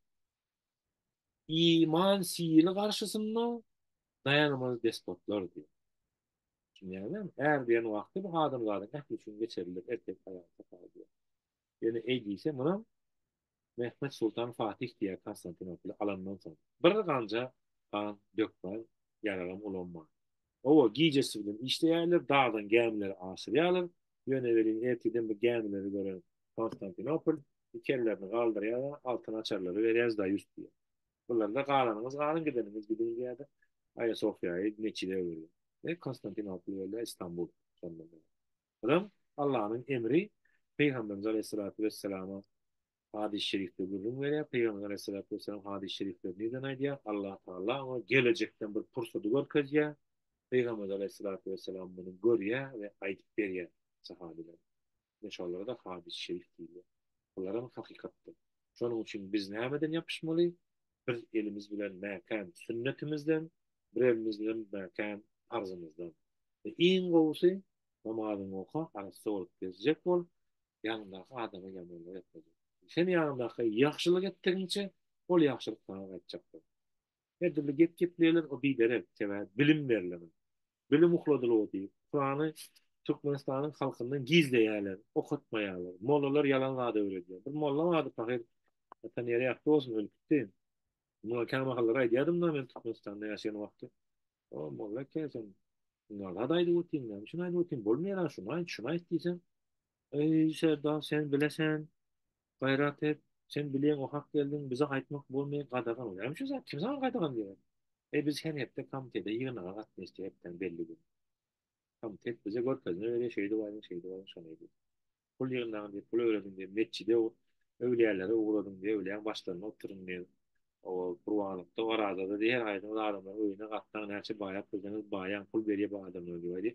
Speaker 2: Iman sili garşysynda daýanmaz despotlar diýýär. Düşünýäňizmi? Är diýen wagty bu adamzadyň ähli üçin geçerlidir, erkek, aýal, sakal diýýär. Ýöne eý diýse, munam Mehmet Sultan Fatih diýýär Konstantinopoli alandan soň. Bir ganja gan dökmän, ýaragam ulanman. Hawa, gijesi bilen işleýärler, dagdan gämileri aşyrýarlar. Ýöne welin ertirden bir gämileri gören Konstantinopol iki ellerini galdyrýar-da, Altyn açarlary berýäris, daýus diýýär. Bular-da Galanyňyz galyň, gideniňiz gidiň diýýär-de, Aýa Sofiýaýy meçide öwürýär. Konstantinopol bolýar Istambul şondan bäri. Adam, Allanyň emri, Pygamberimiz aleýhissalatu wessalama hadys şerifde gürrüň berýär, Pygamberimiz aleýhissalatu wessalam hadys şerifleri nirden aýdýar, Allah Taala oňa gelejekden bir pursady görkezýär, Pygamberimiz aleýhissalatu wessalam muny görýär we aýdyp berýär sahabilere. Ine şolara-da hadys şerif diýilýär. Bularam hakykatdyr. Şonuň üçin biz nämeden ýapyşmaly? Biz elimiz bilen mäkäm sünnetimizden, birelimiz bilen mäkäm parzymyzdan. We iň gowusy, namazyňy oka, arassa bolup gezjek bol, ýanyňdaky adama ýamanlyk etmejek. Sen ýanyňdaky ýagşylyk etdigiňçe, ol ýagşylyk saňa gaýtjakdyr. Her dürli gep gepleýärler, o biderek, sebäbi bilim berlemez. Bilim ukladylygy diýip, Kurany Türkmenistanyň halkyndan gizleýärler, okatmaýarlar. Mollalar ýalan zat öwredýär. Bir molla bardy, pahyr, atan ýeri ýagty bolsun, ölüp gitdi. Muňa kämahallar aýdýardym-da men Türkmenistanda ýaşaýan wagty. O, molla eke, sen ýalan zat aýdyp otyň, näme üçin aýdyp otyň, bolmaýar-a, şuny aýt, şuny aýt diýseň, Eý, serdar, sen bilesen, Gaýrat et, sen bileň o hak geldiň, bize aýtmak bolmaýar, gadagan ol. Näme üçin sen, kim saňa gadagan diýýär? Eý, biz her hepde komitete ýygnaga gatnaşdy, hepdäň belli güni. Komitet bize görkezme berýär, şeýdip aýdyň, şeýdip aýdyň, şony ediň. Pul ýygnaň diýip, pul örediň diýip, metjide, öwlüýälere ugradyň diýip, öwlüýäň başlarynda oturyň diýip, oba, gurbanlykda, orazada diýip, her aýdyňyz adamlaryň öýüne gatnaň, näçe baýap bilseňiz baýaň, pul berýär bu adamlar diýip aýdy.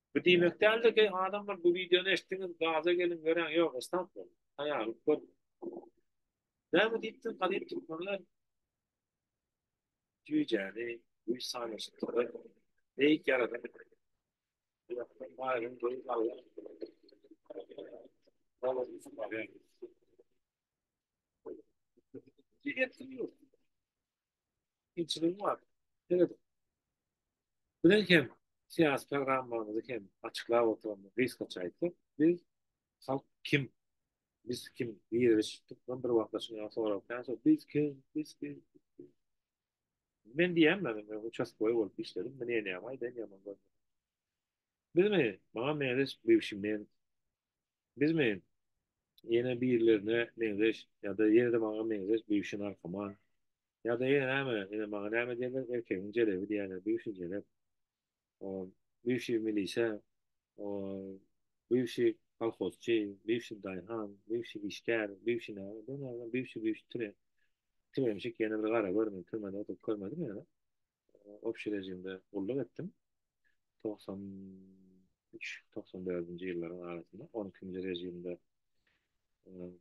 Speaker 2: Bu diýmek däldir ki adamlar bu videony eşitdiňiz gaza gelin göräň ýok esnap boluň taýarlyk görüň. Näme diýipdir gadyp türkmenler Jüýjäni güýç sanaşykdyr. Beýik ýaradan. Ýakdan baýryň goýup Allah. Allah üçin barýar. Diýipdir. Kynçylygy bar. Ýöne bilen hem syýasy programmamyzy hem açyklap oturandyr. Gysgaça aýtsak, biz halk kim? Biz kim? Girizip tutdum bir wagtlar şuny sorap, näçe biz kim? Biz kim? Men diýýän men uçastkoý bolup işledim. Men ýene ýaman aýdaýyn ýaman görmedim. Bilmi, maňa meňzeş bivşi men Bizmi? Ýene birilerine meňzeş ýa-da ýene-de maňa meňzeş bügşi narkoman. Ýa-da ýene näme, ine, maňa näme diýerler, erkegiň jelebi diýerler, bügşi jelep. O, bügşi milisiýa, o, bügşi kolhozçy, bügşi daýhan, bügşi işgär, bügşi näme, bir näme, bügşi-bügşi tire, tiremşik ýene bir gara görmedi, türmede oturyp görmedimi ýa-da? obşi režimde gulluk etdim. Togsan üç, togsan dördünji ýyllaryň arasynda on ikinji režimde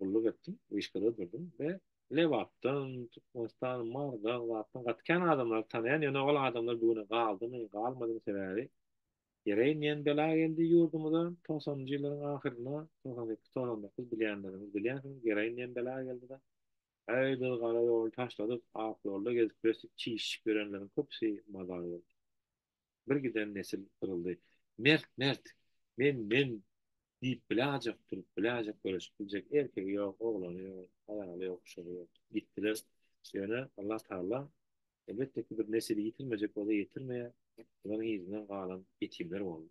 Speaker 2: gulluk etdim, wyşkada durdum we Lebapdan, Türkmenistan, Marydan, Lapdan gaty kän adamlary tanaýan, ýöne ol adamlar bu güne galdymy, galmadymy sebäbi ýere inýän bela geldi ýurdumyza togsanynjy ýyllaryň ahyrynda, togsan sekiz, togsan dokuz bilýänleriňiz bilýänsiňiz, ýere inýän bela geldi-de. Gaýdyl gara ýoly taşladyk, ak ýolda gezip birsip çişişip ýörenleriň köpüsi mazar boldy. Bir giden nesil gyryldy. Mert, mert! Men, men! diýip biläjek turup, biläjek göreşip biljek erkegi ýok, oglany ýok, aýaly ýok, uşagy ýok. Gitdiler. Ýöne Allatagala, elbetde ki, bir nesili ýitirmejek bolsa ýetirmeýär, olaryň yzyndan galan ýetimler boldy.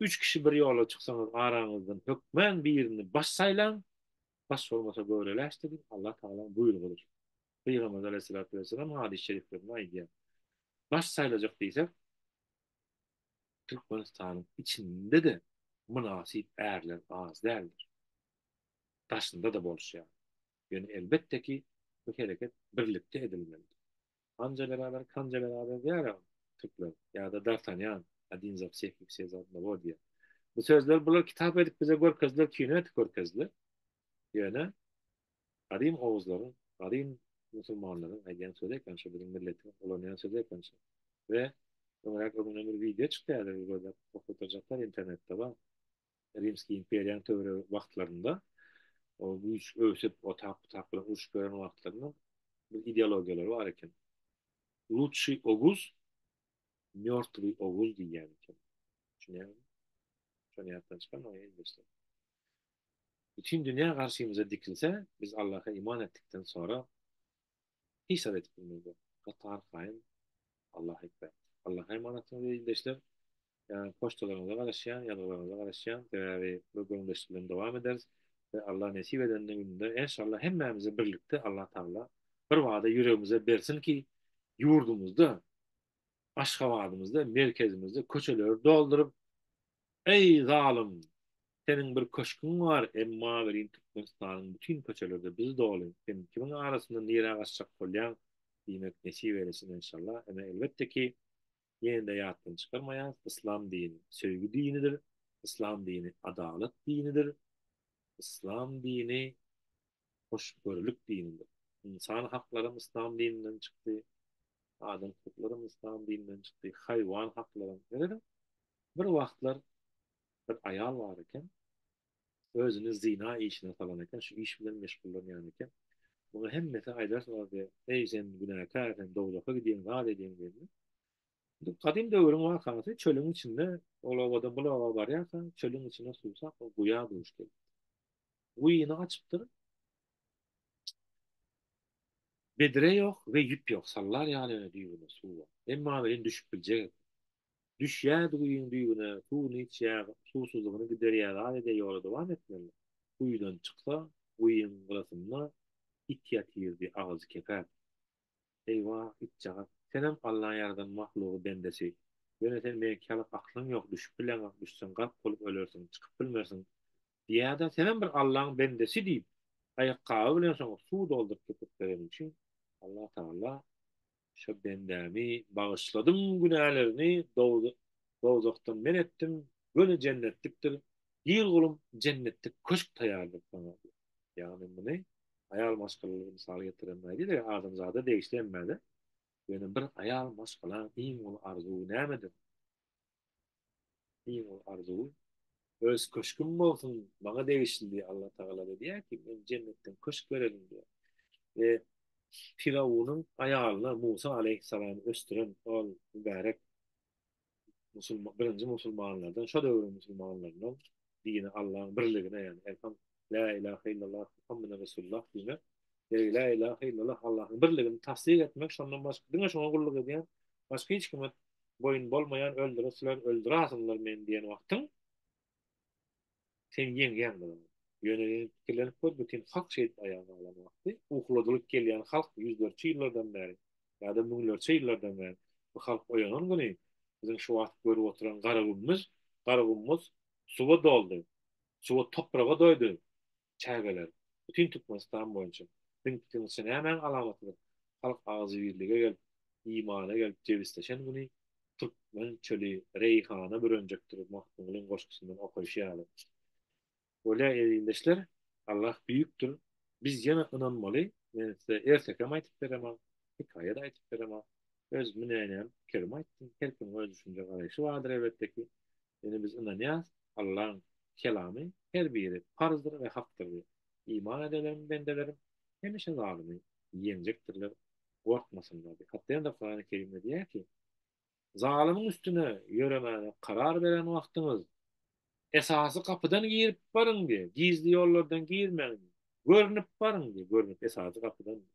Speaker 2: Üç kişi bir ýola çyksaňyz araňyzdan hökmän birini baş saýlaň, baş bolmasa göreläş diýip Allah Tagalaň buýrugydyr. Pygamberimiz Aleýhissalatu wessalam hadys şeriflerinde aýdýar. Baş saýlajak diýsek Türkmenistanyň içinde-de mynasyp ärler az däldir. Daşynda-da bolşýar. Ýöne elbetde ki bu hereket birlikde edilmelidir. Hanja beraber Kanja beraber diýär türkler. Ýa-da Dartanýan, Adin za wseh i wse za odnogo diýär. Bu sözler bular kitap edip bize görkezdiler, kino edip görkezdiler. Ýöne gadym oguzlaryň, gadym musulmanlaryň aýdýan sözi eken şu biziň milletiň ulanýan sözi eken şu. We öňräk öňüne bir wideo çykýardy, gözläp oturjaklar internetde bar. Rimski imperiýanyň töweregi wagtlarynda o güýç öwsüp, o tap tap bilen urşup ýören wagtlarynda bu ideologiýalar bar eken. Lutşi Oguz, Mörtvi Oguz diýýän eken. Düşünýäňmi? Şony ýatdan çykarma, ýeňilmese. Bütün dünýä garşymyza dikilse, biz Allaha iman etdikden sonra Hisap edip bilmezler. Gatan haýyn. Allah ekber. Allah emanatyňyz ildeşler. Yani poçtalaryňyza garaşýan, ýazgylaryňyza garaşýan. Sebäbi bu gürleşik bilen dowam ederis. We Allah nesip eden gününde enşalla hemmämizi birlikde Allah Taala bir bada ýüregimize bersin ki, ýurdumyzda Aşgabadymyzda, merkezimizde köçeleri dolduryp, Eý, zalym! Seniň bir köşgüň bar, emma welin Türkmenistanyň bütin köçeleri-de biz doly. Sen kimiň arasynda nirä gaçjak bolýaň? diýmek nesip eýlesin enşalla. Ine, elbetde ki, ýene-de ýatdan çykarmaýarys, yslam dini söýgi dinidir, yslam dini adalat dinidir, yslam dini hoşgörülik dinidir. Ynsan haklaram yslam dininden çykdy, adam hukuklaram yslam dininden çykdy, haýwan haklaram. Seredin, bir wagtlar bir aýal bar eken, özüni zyna işine salan eken, şu iş bilen meşgullanýan eken. Muňa hemmesi aýdarlardy, Eý, sen günäkär, sen dowzaha gidýäň, zat edýäň diýende. Bu gadym döwrüň wakasy, çölüň içinde ol obadan bulaga barýarka, çölüň içinde suwsap, guýa duş gelipdi. Guýyny gaçypdyr. Bedre ýok we ýüp ýok, sallar ýaly ýöne düýbünde suw bar. Emma welin düşüp biljek eken. Düşýärdi guýyň düýbüne, suwuny içýär, suwsuzlygyny giderýär, adede ýola dowam etmeli. Guýydan çyksa, guýyň gyrasynda it ýatyrdy, agzy kepäp. Eýwah, itjagaz, senem Allaň ýaradan mahlugy, bendesi. Ýöne sen meňki ýaly aklyň ýok, düşüp bileňok, düşseň gark bolup ölersiň, çykyp bilmersiň. Ýa-da senem bir Allaň bendesi diýip, aýakgaby bilen şoňa suw dolduryp tüpürtmegeniň üçin Allah Tagala Şo bendämi bagyşladym günälerini dowzahdan men etdim, göni jennetlikdir, gir gulum jennetlik köşk taýýardyr saňa diýip. Ýagny muny aýal maşgalaly mysal getiren nädip eger adamzada degişli emmede göni bir aýal maşgala iň uly arzuwy nämedir? Iň uly arzuwym öz köşgüm bolsun, maňa degişli diýip Alla Tagala edýär ki, men jennetden köşk berelim diýip. We Firawunyň aýalyna Musa aleýhissalamy ösdüren ol mübärek musulman birinji musulmanlardan, şo döwrüň musulmanlaryndan dini Allaň birligine ýagny La ilaha illallah Muhammed Resulullah diýmek, ýa-da la ilaha illallah Allahyň birligini tassyk etmek, şondan başga diňe şoňa gulluk edýän, başga hiç kime boýun bolmaýan öldüresiler, öldürasyňlar meni diýen wagtyň sen ýeňýäň bilen. Ýöne pikirlenip gör, bütin halk şeýdip aýaga galan wagty, ukladylyp gelýän halk ýüzlerçe ýyllardan bäri, ýa-da müňlerçe ýyllardan bäri bu halk oýanan güni biziň şu wagt görüp oturan Garagumyz, Garagumyz suwa doldy. Suwa topraga doýdy çägeler bütin Türkmenistan boýunça Siziň pikiriňizçe nämäň alamatydyr halk agzybirlige gelip imana gelip jebisleşen güni Türkmen çöli reýhana bürenjekdir Magtymgulyň goşgusyndan okaýşy ýaly bolýa Ezizdeşler Allah büýükdir biz ýene ynanmaly men size ertekem aýtyp beremok hekaýada aýtyp beremok öz münenäm pikirimi aýtdym her kimiň öz düşünje garaýşy bardyr elbetde ki Ýöne biz ynanýarys, Allaň Kelamy her biri parzdyr we hakdyr diýip. Iman edelerim, bendelerim, hemişe zalymy ýeňjekdirler, gorkmasynlar diýip. Hatda ýene-de Kurany Kerimde diýýär ki, Zalymyň üstüne ýöremäne karar beren wagtyňyz, esasy gapydan girip baryň diýip, gizli ýollardan girmäň diýip, görnüp baryň diýip, görnüp, esasy gapydan diýip.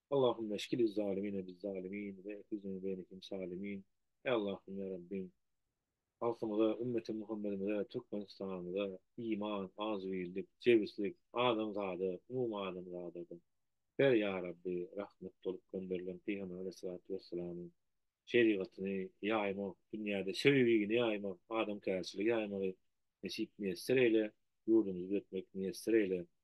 Speaker 2: Allahümme eskiliz zalimine biz zalimin ve ehrizine beynekim salimin Eý Allahym ýa Rabbim halkymyza ümmeti Muhammedimize Türkmenistanymyza iman azybirlik jebislik adamzada umum adamzada da ber ýa Rabbi rahmet bolup gönderilen Pygamber Aleýhissalatu Wessalamyň şerigatyny ýaýmak dünýäde söýgini ýaýmak adamkärçiligi ýaýmagy nesip miýesser eýle ýurdumyzy düzetmek miýesser eýle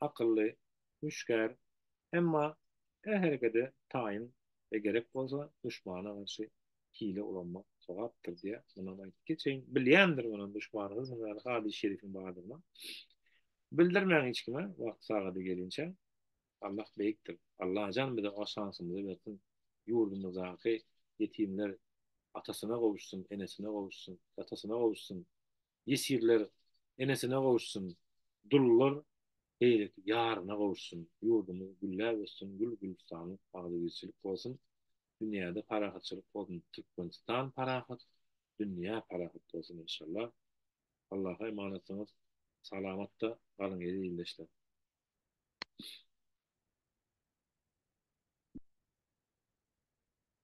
Speaker 2: akylly, hüşgär, emma her herekede taýyn we gerek bolsa duşmana garşy hile ulanmak sogapdyr diýýär. Munam aýdyp geçeýin. Bilýändir munam duşmanyňyz ýaly hadys şerifiň bardygyny. Bildirmäň hiç kime wagty sagady gelinçä. Allah beýikdir. Allajan bize o şansymyzy bersin. Ýurdumyzdaky ýetimler atasyna gowuşsyn, enesine gowuşsyn, datasyna gowuşsyn. ýesirler enesine gowuşsun, dullar beýleki ýaryna gowuşsun, ýurdumyz gülläp össün, gül-gülüstanlyk, agzybirçilik bolsun, dünýäde parahatçylyk bolsun, Türkmenistan parahat, dünýä parahat bolsun enşallah. Allaha emanatsyňyz, salamatda galyň eziz ildeşler!